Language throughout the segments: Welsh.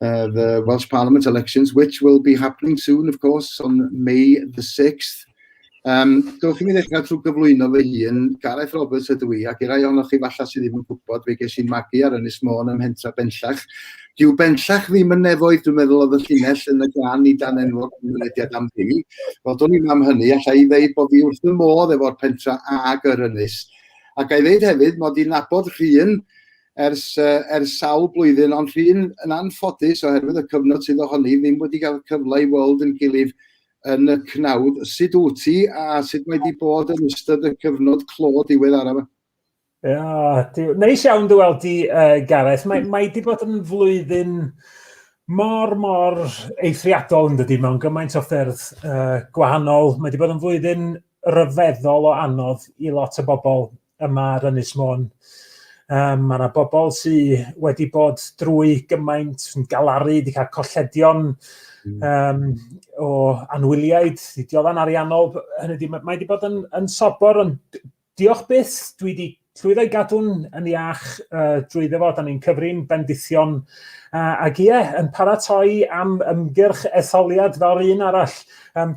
uh, the Welsh Parliament elections, which will be happening soon, of course, on May the 6th. Um, Dwch i mi ddechrau trwy gyflwyno fy hun, Gareth Roberts ydw i, ac i rai ohonoch chi falla sydd ddim yn gwybod, fe ges i'n magu ar Ynys Môn ym Mhentra Benllach. Dyw Benllach ddim yn nefoedd, dwi'n meddwl oedd y llinell yn y gan i dan enwog yn mynediad am ddim. Wel, dwi'n i'n am hynny, allai i ddeud bod fi wrth y modd efo'r pentra ag yr Ynys. Ac a'i ddeud hefyd, mod i'n nabod rhywun ers uh, ers sawl blwyddyn, ond rhywun yn anffodus oherwydd y cyfnod sydd ohoni ddim wedi cael cyfle i weld yn gilydd yn y cnawd. Sut wyt ti a sut mae wedi bod yn ystod y cyfnod clo diwedd araf? Oh, neis iawn dy weld ti, uh, Gareth. Mae, mae wedi bod yn flwyddyn mor, mor eithriadol yn dydy mewn gymaint o ffyrdd uh, gwahanol. Mae wedi bod yn flwyddyn ryfeddol o anodd i lot o bobl yma ar Ynys Môn. Um, mae yna bobl sydd wedi bod drwy gymaint yn galaru, wedi cael colledion um, o anwyliaid, dioddau'n ariannol. Hynny di, mae wedi bod yn, yn sobor, ond diolch byth, dwi wedi llwyddo i gadw'n yn iach uh, drwy ddefod, da ni'n cyfrin bendithion uh, ac ie, yn paratoi am ymgyrch etholiad fel un arall. Um,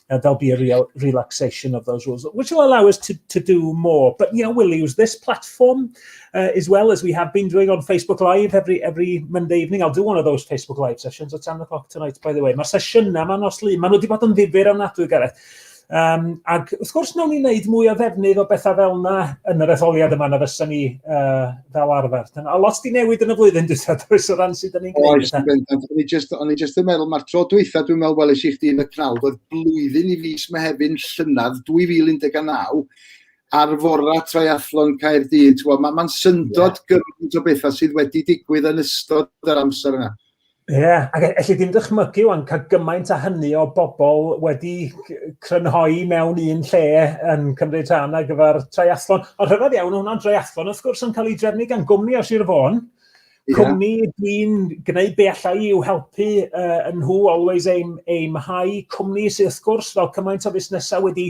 uh, there'll be a real relaxation of those rules, which will allow us to, to do more. But yeah, we'll use this platform uh, as well as we have been doing on Facebook Live every every Monday evening. I'll do one of those Facebook Live sessions at 10 o'clock tonight, by the way. Mae'r sesiynau yma nos lu, maen nhw wedi bod yn ddifur am nadwy, Gareth. Um, ac wrth gwrs, nawn ni wneud mwy o ddefnydd o bethau fel yna yn yr etholiad yma na fysa ni uh, fel arfer. A lot di newid yn y flwyddyn dwi'n does o ran sydd yn ni'n gwneud. Oes, bendant. O'n i just, o'n i just yn meddwl, mae'r tro dwytha dwi'n meddwl weles i chdi yn y prawd, oedd blwyddyn i fis Mehefin llynedd 2019, ar fora triathlon Caerdydd. Mae'n ma syndod yeah. gymaint o bethau sydd wedi digwydd yn ystod yr amser yna. Ie, yeah, ac e- elli ddim dychmygu o'n cael gymaint a hynny o bobl wedi crynhoi mewn un lle yn cymryd rhan ar gyfer triathlon. Ond rhyfedd iawn, hwnna'n triathlon, wrth gwrs, yn cael ei drefnu gan gwmni o Sir Fôn. Yeah. Cwmni dwi'n gwneud be allai i'w helpu uh, yn nhw always aim, aim high. Cwmni sydd wrth gwrs fel cymaint o fusnesau wedi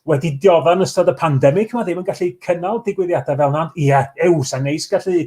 wedi diodda yn ystod y pandemig, mae ddim yn gallu cynnal digwyddiadau fel yna. Ie, yeah, ew, sa'n neis gallu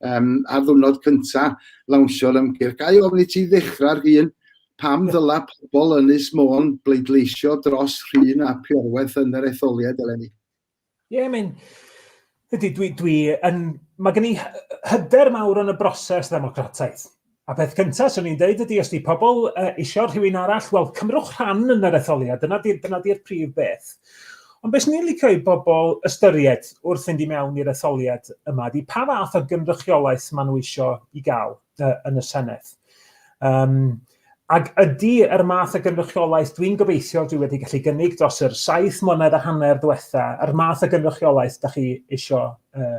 um, ar ddwrnod cynta lawnsio'r ymgyrch. Gai ofyn i ti ddechrau'r hun, pam ddyla pobl yn Ynys Môn bleidleisio dros rhywun a priorwaith yn yr etholiad eleni? Ie, yeah, mae'n... Ydy, dwi, dwi yn... Mae gen i hyder mawr yn y broses ddemocrataidd. A peth cynta swn i'n deud ydy os di pobl uh, isio rhywun arall, wel cymrwch rhan yn yr etholiad, dyna di'r dyna di prif beth. Ond beth ni'n licio i bobl ystyried wrth fynd i mewn i'r etholiad yma ydy pa fath o gynrychiolaeth maen nhw isio i gael uh, yn y Senedd. Um, Ac ydy yr math o gynrychiolaeth dwi'n gobeithio dwi wedi gallu gynnig dros yr saith mlynedd a hanner diwetha, yr math o gynrychiolaeth da chi eisiau uh,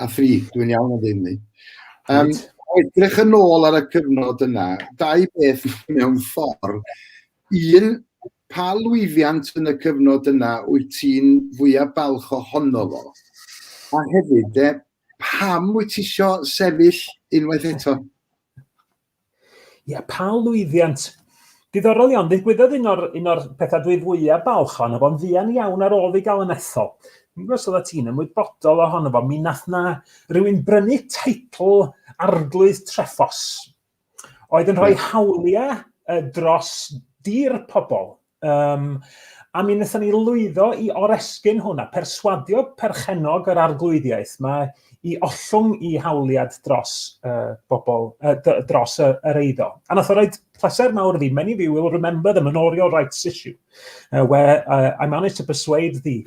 a thri, dwi'n iawn o ddim ni. Um, edrych yn ôl ar y cyfnod yna, dau beth mewn ffordd. Un, pa lwyddiant yn y cyfnod yna wyt ti'n fwyaf balch ohono fo? A hefyd, de, pam wyt ti eisiau sefyll unwaith eto? Ie, yeah, pa lwyddiant. Diddorol iawn, ddigwyddodd un o'r, un o'r pethau dwi fwyaf balch ohono fo'n fuan iawn ar ôl fi gael yn ethol. Mi'n gwybod oedd ti'n ymwybodol ohono fo, mi nath na rhywun brynu teitl arglwydd treffos, oedd yn rhoi hawliau dros dir pobl. Um, a mi wnaethon ni lwyddo i oresgyn hwn a perswadio perchenog yr arglwyddiaeth yma i ollwng i hawliad dros uh, bobl, uh, dros yr, yr eiddo. A nath o roed pleser mawr fi, many of you will remember the manorial rights issue, uh, where uh, I managed to persuade the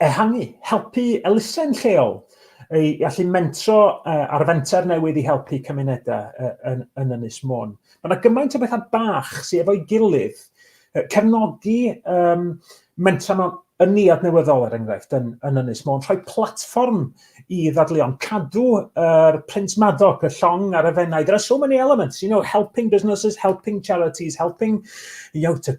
Ehangu, helpu elusen lleol i allu mentro uh, ar fenter newydd i helpu cymunedau uh, yn, yn Ynys Môn. Mae yna gymaint o bethau bach sydd efo'i gilydd. Uh, cefnogi um, mentra mewn ynni adnewyddol er enghraifft yn, yn Ynys Môn, rhoi platfform i ddadleuon, cadw yr er print maddog, y llong a'r efennau. There are so many elements, you know, helping businesses, helping charities, helping you know, to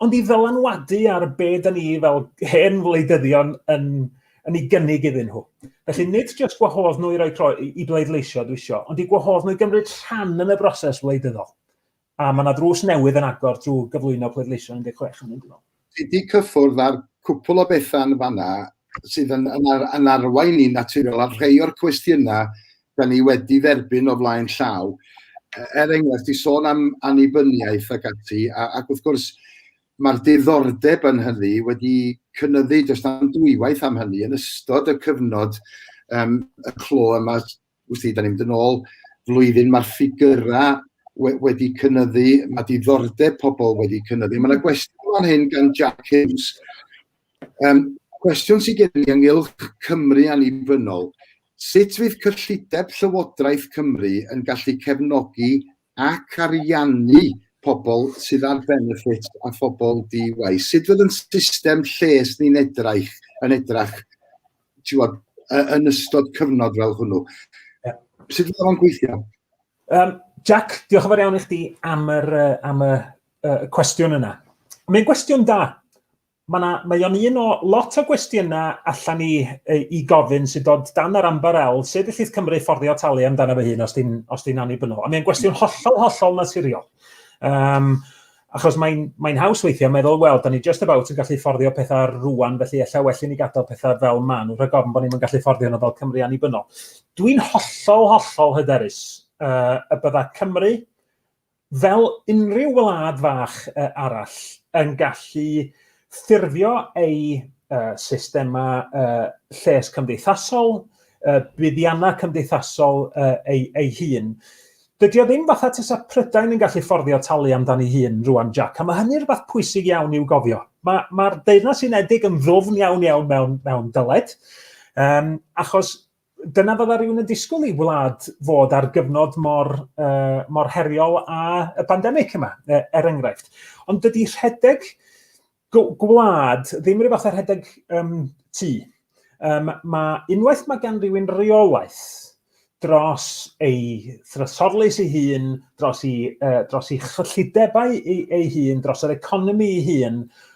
Ond i ddylanwadu ar be dyn ni fel hen wleidyddion yn, yn ei gynnig iddyn nhw. Felly nid jyst gwahodd nhw i roi tro i bleidleisio dwi isio, ond i gwahodd nhw i gymryd rhan yn y broses wleidyddol. A mae yna drws newydd yn agor drwy gyflwyno pleidleisio 16 yn mynd yn ôl. Ti wedi cyffwrdd ar cwpl o bethau yn fanna sydd yn, yn, ar, yn arwain ni'n naturiol ar rhai o'r cwestiynau da ni wedi dderbyn o flaen llaw. E, er enghraifft, i sôn am annibyniaeth ac ati, a, ac wrth gwrs, mae'r diddordeb yn hynny wedi cynnyddu dros am dwywaith am hynny yn ystod y cyfnod um, y clo yma, wrth i, da ni'n mynd yn ôl flwyddyn, mae'r ffigurau we, wedi cynnyddu, mae diddordeb pobl wedi cynnyddu. Mae yna gwestiwn fan hyn gan Jack Hughes, Yym, cwestiwn sydd gen i ynghylch Cymru annibynnol, sut fydd cyllideb Llywodraeth Cymru yn gallu cefnogi ac ariannu pobl sydd ar benefit a phobl di-waith? Sut fydd ein system lles ni'n edrach, yn edrach, ti'wod, yn ystod cyfnod fel hwnnw? Sut fydd o'n gweithio? Um, Jack, diolch yn fawr iawn i chdi am yr, uh, am y, uh, cwestiwn yna. Mae'n gwestiwn da. Mae yna, mae o'n un o lot o gwestiynau allan ni i gofyn sy'n dod dan yr amber el, sef y llith Cymru fforddio talu amdano fy hun os di'n os di annibynnol. A mae'n gwestiwn hollol, hollol naturiol. Um, achos mae'n mae haws weithio meddwl, wel, da ni just about yn gallu fforddio pethau rwan, felly efallai well i ni gadael pethau fel man, wrth rhaid gofyn bod ni'n gallu fforddio nhw fel Cymru annibynnol. Dwi'n hollol, hollol hyderus uh, y bydda Cymru Fel unrhyw wlad fach arall, yn gallu ffurfio ei systemau lles cymdeithasol, buddiannau cymdeithasol ei hun. Dydy o ddim fatha tasa Prydain yn gallu fforddio talu amdani hun rwan, Jac, a mae hynny'n rhywbeth pwysig iawn i'w gofio. Mae, mae'r Deyrnas Unedig yn ddwfn iawn iawn mewn, mewn dyled, um, achos dyna fydda rhywun yn disgwyl i wlad fod ar gyfnod mor, uh, mor heriol a y pandemig yma, er enghraifft. Ond dydy rhedeg gwlad ddim rhywbeth ar rhedeg um, tu. Um, mae unwaith mae gan rhywun reolaeth dros ei thrysorlus ei hun, dros ei, uh, dros ei chyllidebau ei, ei hun, dros yr economi ei hun,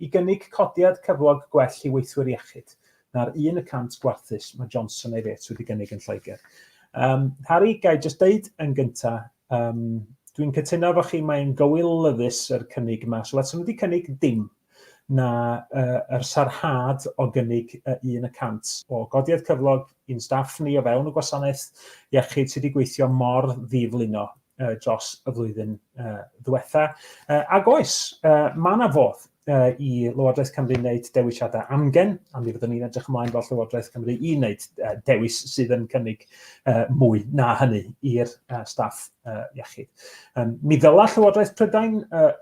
i gynnig codiad cyflog gwell i weithwyr iechyd na'r un y cant gwarthus mae Johnson ei Fêts wedi gynnig yn Lloegr. Um, Harry, gai jyst deud yn gynta, um, dwi'n cytuno efo chi, mae'n gywilyddus yr cynnig yma. So, let's wedi cynnig dim na uh, yr sarhad o gynnig uh, un y cant o godiad cyflog i'n staff ni o fewn y gwasanaeth iechyd sydd wedi gweithio mor ddiflino uh, dros y flwyddyn uh, ddiwetha. Uh, ac oes, uh, mae yna fodd uh, i Lywodraeth Cymru wneud dewisiadau amgen, a mi fyddwn ni'n edrych ymlaen fel Llywodraeth Cymru i wneud uh, dewis sydd yn cynnig uh, mwy na hynny i'r uh, staff uh, iechyd. Um, mi ddyla Llywodraeth Prydain uh,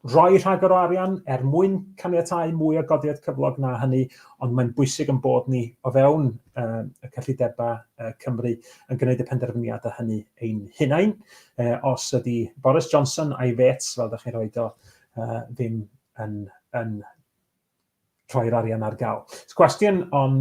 rhoi rhagor o arian er mwyn caniatau mwy o godiad cyflog na hynny, ond mae'n bwysig yn bod ni o fewn uh, y cyllidebau uh, Cymru yn gwneud y penderfyniad a hynny ein hunain. Uh, os ydy Boris Johnson a'i fets, fel ydych chi'n rhoi do, uh, ddim yn, yn rhoi'r arian ar gael. Cwestiwn o'n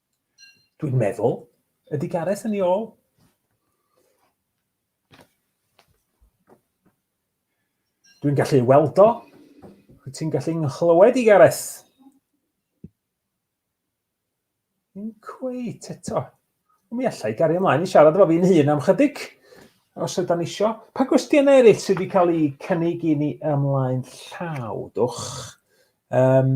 Dwi'n meddwl. Ydy Gareth yn ei ôl? Dwi'n gallu ei weld o. Wyt ti'n gallu nghlywed i Gareth? Yn cweit eto. Mi allai gario ymlaen i siarad efo fi'n hun am chydig, os yda ni isio. Pa gwestiynau eraill sydd wedi cael eu cynnig i ni ymlaen llaw, dwch? Um,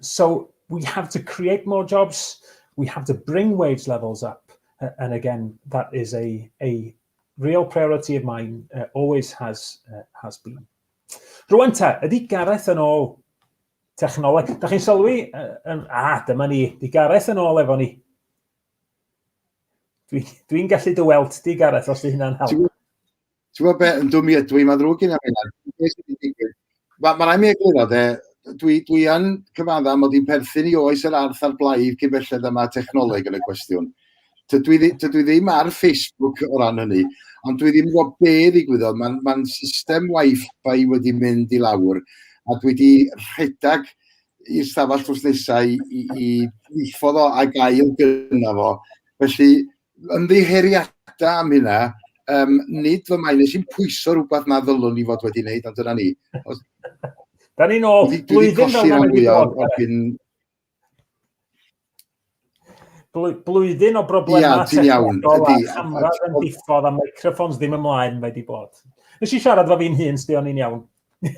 So we have to create more jobs, we have to bring wage levels up. Uh, and again, that is a, a real priority of mine, uh, always has, uh, has been. Rwan ta, ydy Gareth yn ôl technoleg? Da chi'n sylwi? Uh, um, ah, dyma ni, di Gareth yn ôl efo ni. Dwi'n dwi, dwi gallu dy weld di, Gareth, os di hynna'n help. Ti'n gwybod beth, yn dwm i ydw i, mae'n ddrwg gen i am hynna. Mae'n ma rhaid mi egluro de, dwi, dwi yn cyfadda mod i'n perthyn i oes yr arth a'r blaid cyn belled yma technoleg yn y cwestiwn. Tydw i, tydw i ddim ar Facebook o ran hynny, ond dwi ddim yn gwybod be ddigwyddodd. Mae'n ma system Wi-Fi wedi mynd i lawr, a dwi wedi rhedeg i'r stafell drws nesau i, i, i ddiffodd o a gael gyda fo. Felly, ymddiheuriada am hynna, um, nid fy mae'n eisiau pwyso rhywbeth na ddylwn ni fod wedi wneud, ond dyna ni. Os... da ni'n ôl, blwyddyn fel yna wedi bod. Blwyddyn o broblemau Ia, ti'n iawn, ydy. Camera yn diffodd a microphones ddim ymlaen mae wedi bod. Nes i siarad fo fi'n hun, sdi o'n i'n iawn.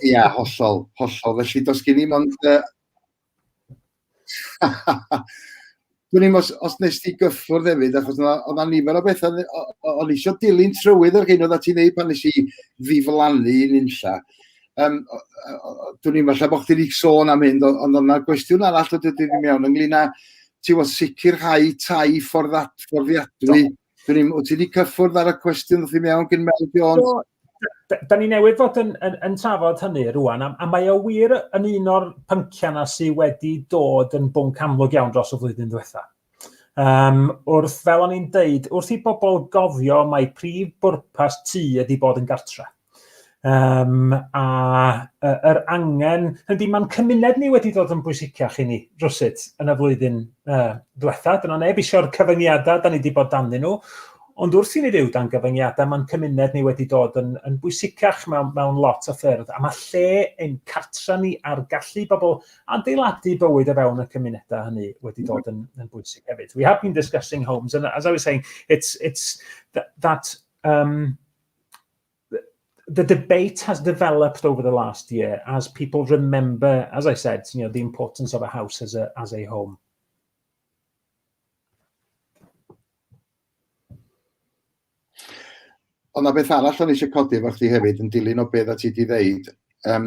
Ia, hollol, hollol. Felly, dos gen i mond uh, Dwi'n ddim os, os nes ti gyffwrdd hefyd, achos oedd yna nifer o bethau, o'n eisiau dilyn trywydd ar hyn oedd ti'n neud pan nes i ddiflannu yn unlla. Um, dwi'n ddim falle bod chdi wedi sôn am hyn, ond o'na gwestiwn arall o dydyn ni mewn ynglyn â ti'n fod sicrhau tai ffordd fforddiadwy. Do Dyn ni'n, wyt ti wedi cyffwrdd ar y cwestiwn wrth i mewn gyn Mel Jones? So, da ni newydd fod yn, yn, yn trafod hynny rwan, a, a mae o wir yn un o'r pynciau na sydd wedi dod yn bwnc amlwg iawn dros y flwyddyn diwetha. Um, wrth, fel o'n i'n deud, wrth i bobl gofio mae prif bwrpas tu ydy bod yn gartre. Um, a uh, yr angen, ydy mae'n cymuned ni wedi dod yn bwysicach i ni rhywsut yn y flwyddyn uh, diwetha. Dyna neb eisiau'r cyfyngiadau, da ni wedi bod danddyn nhw. Ond wrth i ni fyw dan gyfyngiadau, mae'n cymuned ni wedi dod yn, yn bwysicach mewn, mewn lot o ffyrdd. A mae lle ein cartra ni a'r gallu bobl adeiladu bywyd o fewn y cymunedau hynny wedi dod yn, yn bwysig hefyd. We have been discussing homes, and as I was saying, it's, it's that, that um, the debate has developed over the last year as people remember, as I said, you know, the importance of a house as a, as a home. Ond na beth arall o'n eisiau codi efo chdi hefyd yn dilyn o beth a ti wedi ddeud, um,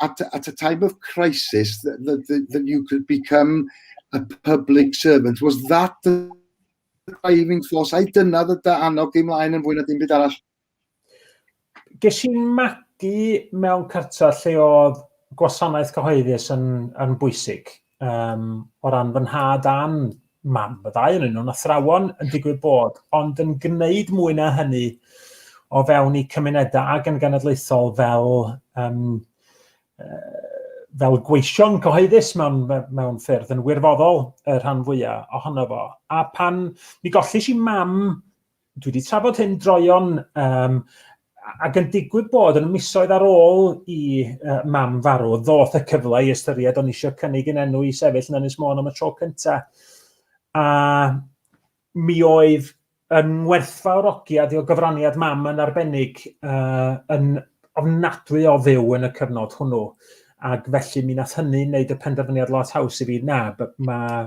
at, at a time of crisis, that, that, that you could become a public servant. Was that the driving force? I dyna dy dy annog i mlaen yn fwy na dim byd arall. Ges i'n magu mewn cartref lle oedd gwasanaeth cyhoeddus yn, yn bwysig. um, o ran fy nhad a'n mam, y ddau yn nhw'n athrawon yn digwydd bod, ond yn gwneud mwy na hynny o fewn i cymunedau ag yn genedlaethol fel, um, fel gweision cyhoeddus mewn, mewn ffyrdd yn wirfoddol y rhan fwyaf ohono fo. A pan mi golli si mam Dwi wedi trafod hyn droion um, ac yn digwydd bod yn misoedd ar ôl i uh, mam farw, ddoth y cyfle i ystyried o'n eisiau cynnig yn enw i sefyll yn Ynys Môn am y tro cyntaf. A mi oedd yn werthfawr ogiad i o gyfraniad mam yn arbennig uh, yn ofnadwy o fyw yn y cyfnod hwnnw. Ac felly mi nath hynny wneud y penderfyniad lot haws i fi, na, mae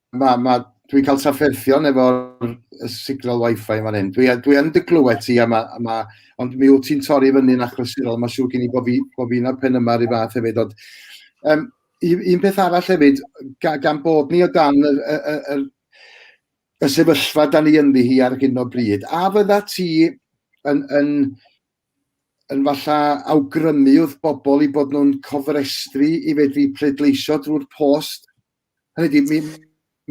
Mae, mae, dwi'n cael trafferthion efo'r signal wifi yn fan hyn. Dwi, dwi yn dy glywed ti, a ma, a ma, ond mi wyt ti'n torri fyny'n achlysurol. Mae'n siŵr gen i bod fi, bo fi na'r pen yma ar ei fath hefyd. Ond, um, un peth arall hefyd, gan bod ni o dan y, y, y, y, y sefyllfa da ni ynddi hi ar hyn o bryd, a fydda ti yn, yn, yn falla awgrymu wrth bobl i bod nhw'n cofrestru i fedru pleidleisio drwy'r post Hynny di, mi,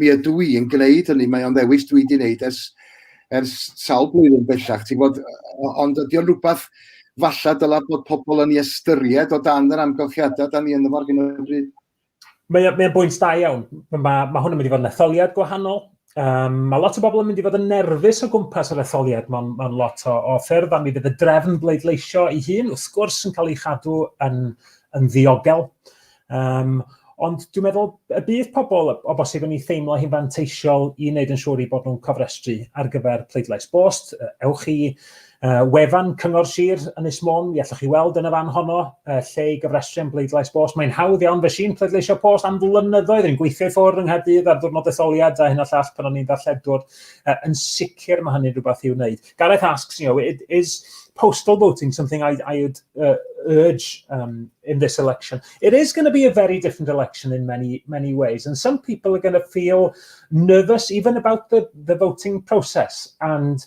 mi ydw i yn gwneud hynny, mae o'n ddewis dwi wedi gwneud ers, ers sawl blwyddyn bellach, ti'n bod, ond ydy o'n rhywbeth falle dyla bod pobl yn ei ystyried o dan yr amgylchiadau da ni yn yfo'r hyn o bryd? Mae'n mae bwynt da iawn. Mae, mae hwn yn mynd i fod yn etholiad gwahanol, Um, mae lot o bobl yn mynd i fod yn nerfus o gwmpas yr etholiad mewn, mewn lot o, o ffyrdd, a mi fydd y drefn bleidleisio ei hun, wrth gwrs, yn cael ei chadw yn, yn ddiogel. Um, ond dwi'n meddwl y bydd pobl o bosib yn ei theimlo hi'n fanteisiol i wneud yn siŵr i bod nhw'n cofrestru ar gyfer pleidlais bost. Ewch i Uh, wefan Cyngor Sir Ynys Môn, i allwch chi weld yn y fan honno, uh, lle i gyfrestru am bleidlais post. Mae'n hawdd iawn, fe sy'n pleidleisio post am flynyddoedd, yn gweithio i ffwrdd yng Nghaerdydd ar ddwrnod etholiad a hyn a llall pan o'n i'n ddarlledwr. Uh, yn sicr mae hynny'n rhywbeth i'w wneud. Gareth asks, you know, it is postal voting something I, I would uh, urge um, in this election. It is going to be a very different election in many many ways, and some people are going to feel nervous even about the, the voting process and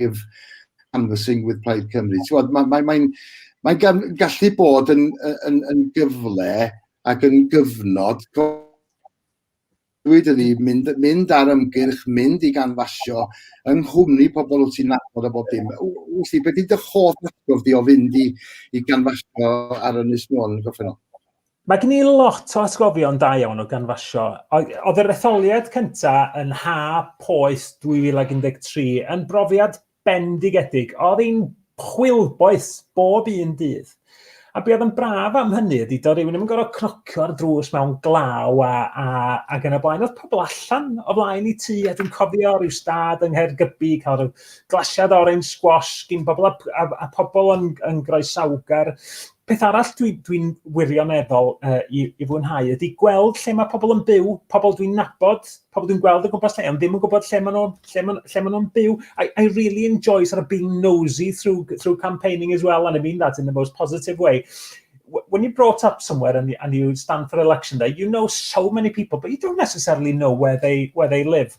live canvassing with Plaid Cymru. Ti'n mae'n mae, mae, mae gallu bod yn, yn, yn gyfle ac yn gyfnod dweud ydi, mynd, mynd ar ymgyrch, mynd i ganfasio, yng nghwmni pobl wyt ti'n nabod a bob dim. Wyt ti, beth ydy dy hoff atgof di o fynd i, i ganfasio ar Ynys Môn yn Goffennol? Mae gen i lot o atgofion da iawn o ganfasio. Oedd yr etholiad cyntaf yn ha poes 2013 yn brofiad bendigedig. Oedd hi'n chwilboes bob un dydd. A be oedd yn braf am hynny ydy, doedd rhywun ddim yn gorfod cnocio ar drws mewn glaw a, a, a gan y blaen. Oedd pobl allan o flaen i ti, a dwi'n cofio rhyw stad yng Nghaergybi, cael rhyw glasiad orange squash gyn bobl a, a, a pobl yn, yn groesawgar Peth arall dwi, dwi'n wirioneddol uh, i, i fwynhau ydy gweld lle mae pobl yn byw, pobl dwi'n nabod, pobl dwi'n gweld o gwmpas lle, ond ddim yn gwybod lle maen nhw'n lle maen, lle maen nhw'n byw. I, I really enjoy sort of being nosy through, through campaigning as well, and I mean that in the most positive way. When you're brought up somewhere and, and you stand for election day, you know so many people, but you don't necessarily know where they, where they live.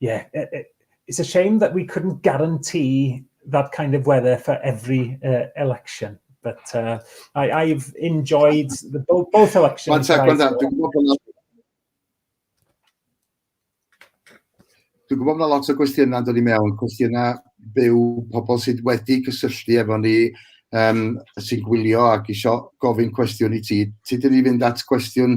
yeah, it's a shame that we couldn't guarantee that kind of weather for every uh, election. But uh, I, have enjoyed the, both, both elections. One sec, one sec. Dwi'n gwybod bod lot o gwestiynau yn dod i mewn, cwestiynau byw pobl sydd wedi cysylltu efo ni um, sy'n gwylio ac eisiau gofyn cwestiwn i ti. Ti dyn ni fynd at gwestiwn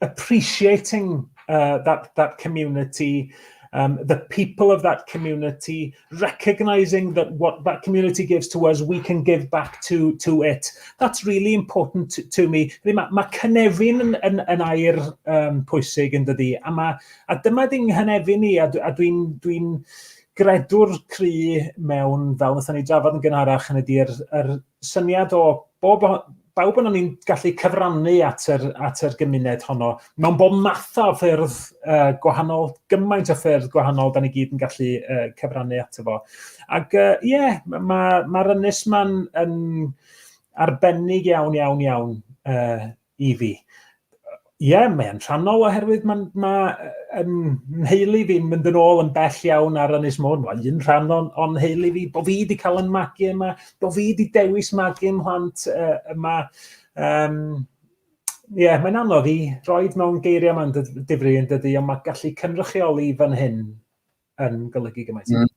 appreciating uh, that, that community, um, the people of that community, recognizing that what that community gives to us, we can give back to, to it. That's really important to, to me. Mae, ma cynefin yn, yn, yn air um, pwysig yn dydy, a, ma, a dyma di'n nghynefin ni, a, a dwi'n dwi, dwi gredwr cry mewn, fel wnaethon ni drafod yn gynharach, yn ydy'r er, syniad o bob, bawb yna ni'n gallu cyfrannu at yr, at yr gymuned honno. Mewn bob math o ffyrdd uh, gwahanol, gymaint o ffyrdd gwahanol, da ni gyd yn gallu uh, cyfrannu ato fo. Ac ie, uh, yeah, mae'r ma, ma ynys ma'n yn arbennig iawn, iawn, iawn uh, i fi. Ie, yeah, mae'n rhannol oherwydd mae'n ma, yn nheulu fi mynd yn ôl yn bell iawn ar Ynys Môn. Mae'n un rhan o'n, on nheulu fi, bod fi wedi cael yn magu yma, bod fi wedi dewis magu yn hwant uh, yma. Um, Ie, yeah, mae'n anodd i roed mewn geiriau mae'n difri yn dydy, ond mae gallu cynrychioli fan hyn yn golygu gymaint. Mm.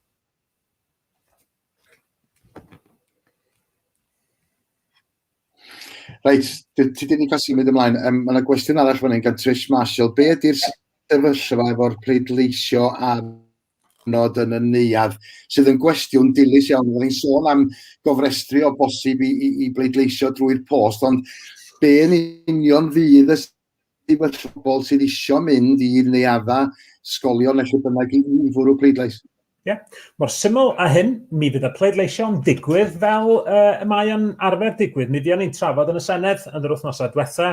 Reit, ti ti ddim yn cael symud ymlaen. Um, mae yna gwestiwn arall fan hyn gan Trish Marshall. Be ydy'r sefyllfa efo'r pleidleisio ar nod yn y neuad, sydd yn gwestiwn dilys iawn. Rwy'n ni'n sôn am gofrestru o bosib i, i, i bleidleisio drwy'r post, ond be yn union fydd y Dim ond pobl sydd eisiau mynd i neuadda, sgolion neu lle bynnag i un fwrw pleidlais. Ie, yeah. mor syml a hyn, mi fydd y pleidleisio'n ddigwydd fel uh, y mae yn arfer digwydd. Mi fuon ni'n trafod yn y Senedd yn yr wythnosau diwetha,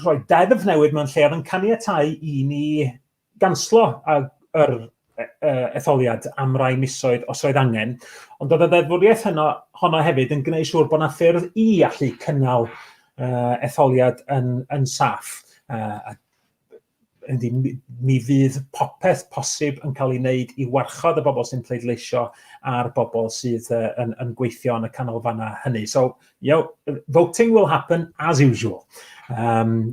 rhoi deddf newydd mewn lle oedd yn caniatau i ni ganslo yr etholiad am rai misoedd os roedd angen, ond oedd y ddeddfwriaeth hynno, honno hefyd yn gwneud siŵr bod yna ffyrdd i allu cynnal uh, etholiad yn, yn saff. Uh, yndi, mi fydd popeth posib yn cael ei wneud i warchod y bobl sy'n pleidleisio a'r bobl sydd uh, yn, yn gweithio yn y canolfannau hynny. So, you know, voting will happen as usual. Um,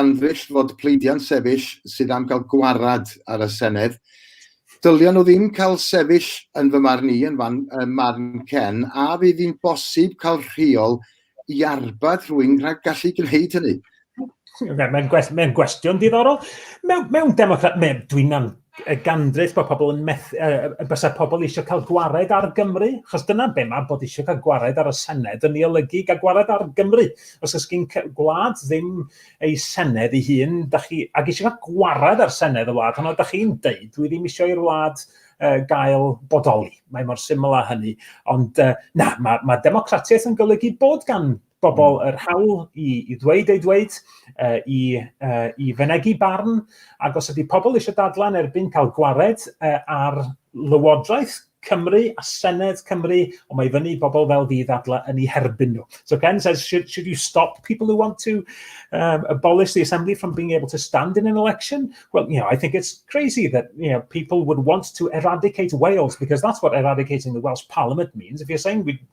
Anrhyll fod pleidiau'n sefyll sydd am gael gwared ar y Senedd. Dylia nhw ddim cael sefyll yn fy marn i, yn fan, ym marn Ken, a fydd hi'n bosib cael rheol i arbed rhywun rhag gallu gwneud hynny? Mae'n gwestiwn diddorol. Mewn, mewn democrat, mewn, dwi'n y gandreth bod pobl yn methu, uh, bysa pobl eisiau cael gwared ar Gymru, achos dyna be mae bod eisiau cael gwared ar y Senedd, yn ei olygu gael gwared ar Gymru. Os ys gyn gwlad ddim ei Senedd ei hun, da chi, ac eisiau cael gwared ar Senedd y wlad, ond da chi'n deud, dwi ddim eisiau i'r wlad uh, gael bodoli. Mae mor syml â hynny. Ond uh, na, mae, mae democratiaeth yn golygu bod gan bobl yr hawl i, i ddweud ei ddweud, uh, i, uh, i fenegu barn, ac os ydy pobl eisiau dadlan erbyn cael gwared uh, ar Lywodraeth Cymru a Senedd Cymru, ond mae fyny bobl fel fi ddadla yn ei herbyn nhw. So Ken says, should, should you stop people who want to um, abolish the assembly from being able to stand in an election? Well, you know, I think it's crazy that, you know, people would want to eradicate Wales because that's what eradicating the Welsh Parliament means. If you're saying we,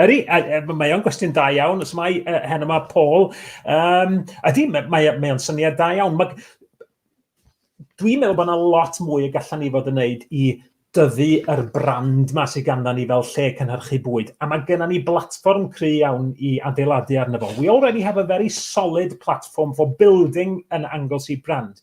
Ydy, mae o'n gwestiwn da iawn, os mae uh, hen yma Paul, um, ydy, mae, mae, mae o'n syniad da iawn. Mae, dwi'n meddwl bod yna lot mwy y gallan ni fod yn neud i dyfu yr brand ma sydd ganddyn ni fel lle cynhyrchu bwyd. A mae gennym ni blatfform cry iawn i adeiladu arno fo. We already have a very solid platform for building an Anglesey brand.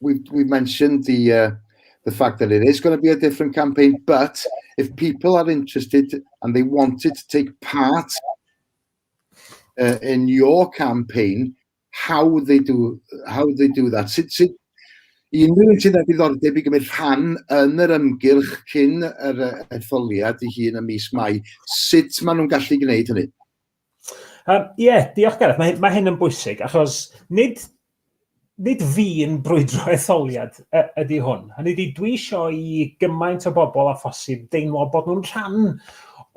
We mentioned the fact that it is going to be a different campaign, but if people are interested and they wanted to take part uh, in your campaign, how would they do how would they do that? Sut, sut, i unrhyw un sydd â diddordeb i gymryd rhan yn yr ymgyrch cyn yr etholiad i hun ym mis Mai, sut maen nhw'n gallu gwneud hynny? Um, Ie, yeah, diolch Gareth. Mae, mae hyn yn bwysig, achos nid, nid fi'n brwydro etholiad ydy hwn. Hynny ydy, dwi eisiau i gymaint o bobl a phosib deimlo bod nhw'n rhan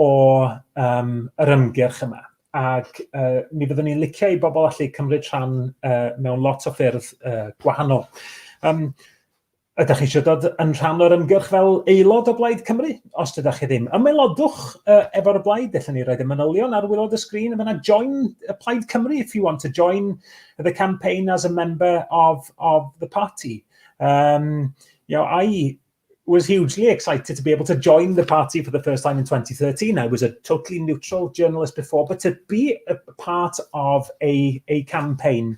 o um, yr ymgyrch yma. Ac uh, mi fyddwn ni'n licio i bobl allu cymryd rhan uh, mewn lot o ffyrdd uh, gwahanol. Um, Ydych chi eisiau dod yn rhan o'r ymgyrch fel aelod o Blaid Cymru? Os dydych chi ddim, ymaelodwch uh, efo'r blaid. Dyllen ni roed y manylion ar wylod y sgrin yn fyna. Join y Plaid Cymru if you want to join the campaign as a member of, of the party. Um, you know, I was hugely excited to be able to join the party for the first time in 2013. I was a totally neutral journalist before, but to be a part of a, a campaign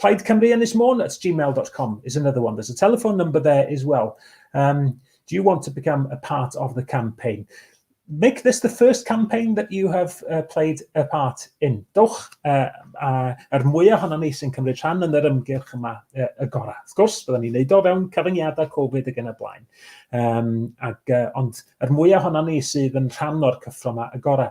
Plaid Cymru Ynys Môn at gmail.com is another one. There's a telephone number there as well. Um, do you want to become a part of the campaign? Make this the first campaign that you have uh, played a part in. Dowch uh, uh, er mwy ohono ni sy'n cymryd rhan yn yr ymgyrch yma uh, y gorau. Wrth gwrs, byddwn ni'n neud o fewn cyfyngiadau Covid ag yn y blaen. Um, ag, uh, ond er mwy ohono ni sydd yn rhan o'r cyffro yma y gorau.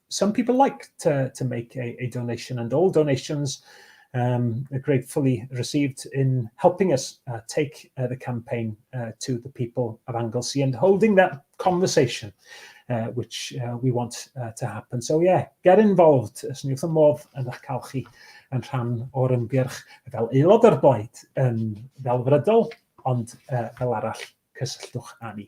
some people like to, to make a, a donation and all donations um, are gratefully received in helping us uh, take uh, the campaign uh, to the people of Anglesey and holding that conversation uh, which uh, we want uh, to happen. So yeah, get involved os ni wrth y modd yn eich cael chi yn rhan o'r ymgyrch fel aelod o'r blaid yn ddelfrydol ond uh, fel arall cysylltwch â ni.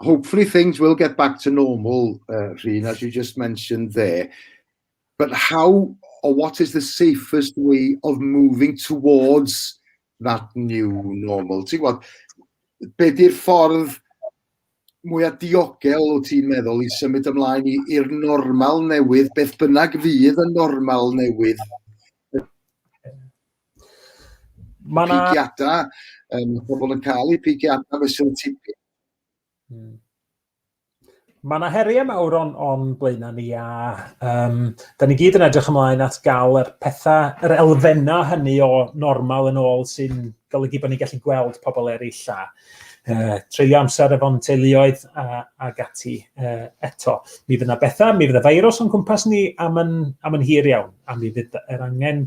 Hopefully things will get back to normal, uh, Rhun, as you just mentioned there. But how or what is the safest way of moving towards that new normal? Ti'n gwybod, be di'r ffordd mwyaf diogel o ti'n meddwl i symud ymlaen i'r normal newydd, beth bynnag fydd y normal newydd Mae yna... Pigiadau, um, pobl yn cael eu pigiadau fe sy'n tipi. Hmm. Mae yna heriau mawr o'n, on blaenau ni a um, da ni gyd yn edrych ymlaen at gael yr pethau, yr elfennau hynny o normal yn ôl sy'n golygu bod ni'n gallu gweld pobl eraill a uh, treulio amser efo'n teuluoedd a, a gati uh, eto. Mi fydd yna bethau, mi fydd y feirws o'n cwmpas ni am yn, am yn hir iawn a mi fydd yr angen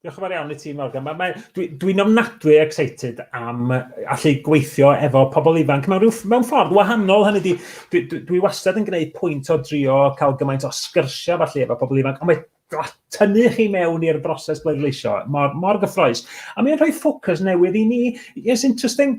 Diolch yn fawr iawn i ti, Morgan. Mae, mae, dwi, dwi'n ofnadwy excited am allu gweithio efo pobl ifanc mewn, rhyw, mewn ffordd wahanol. Hynny di, dwi, dwi, dwi wastad yn gwneud pwynt o drio cael gymaint o sgyrsiau falle efo pobl ifanc, ond mae tynnu chi mewn i'r broses bleidleisio mor, mor gyffroes. A mae'n rhoi ffocws newydd i ni. It's interesting,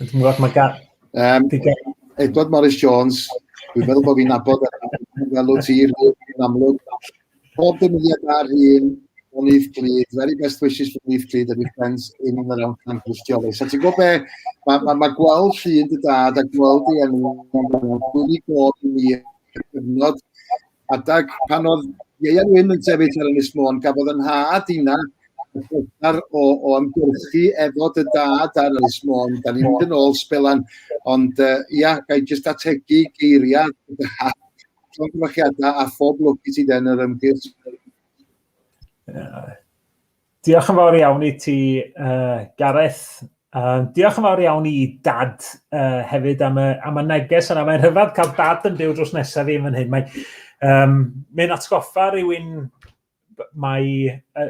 Dwi'n gwybod, mae gan... Um, Edward Morris Jones, dwi'n meddwl bod fi'n abod fel o tir yn amlwg. Pob dymuniad ar un o Nif Clyd, very best wishes for Nif Clyd and your friends in and around Camp Christioli. So ti'n gwybod be, mae ma, ma gweld llun dy dad a gweld i enw, dwi'n gwybod i mi, cyfnod Adag pan oedd Ieuan Wyn yn sefyll ar Ynys Môn, gafodd yn nhad inna y pleser o, o ymgyrchu efo dy dad ar Ynys Môn. Da ni'n mynd yn ôl sbelan, ond uh, ia, gael jyst ategu geiriau dy dad, llongyfarchiadau a phob lwc i ti den yr ymgyrch. Diolch yn fawr iawn i ti, uh, Gareth. Um, diolch yn fawr iawn i dad uh, hefyd am y, am y neges yna. Mae'n rhyfedd cael dad yn byw drws nesaf i yn fan hyn. Mae'n um, mae atgoffa rhywun mae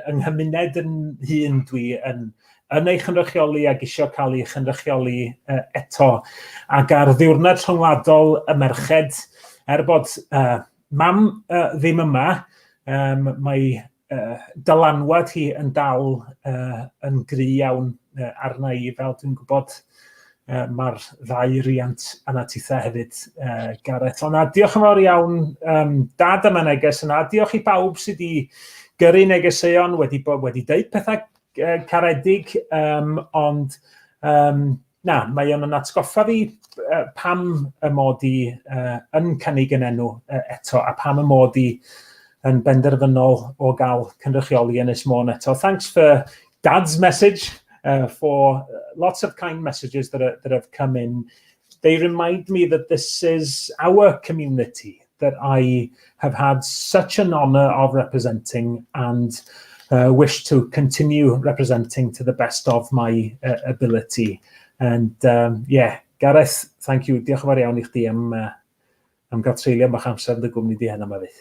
yng nghymuned yn hun dwi yn, yn ei chynrychioli ac eisiau cael ei chynrychioli uh, eto. Ac ar ddiwrnod rhyngwladol y merched, er bod uh, mam uh, ddim yma, um, mae uh, dylanwad hi yn dal uh, yn gry iawn uh, arna i, fel dwi'n gwybod uh, mae'r ddau riant yna titha hefyd, uh, Gareth. Ond diolch yn fawr iawn, um, dad yma neges yna. Diolch i bawb sydd wedi gyrru negeseuon, wedi, wedi deud pethau uh, caredig, um, ond um, Na, mae o'n yn atgoffa fi uh, pam y mod i uh, yn cynnig yn enw uh, eto a pam y mod i yn benderfynol o gael cynrychioli yn Ys Môn eto. Thanks for Dad's message, uh, for lots of kind messages that, are, that have come in. They remind me that this is our community. that I have had such an honour of representing and uh, wish to continue representing to the best of my uh, ability. And um, yeah, Gareth, thank you. Diolch yn fawr iawn i chdi am, uh, am gael treulio bach amser yn dy gwmni di heno yma fydd.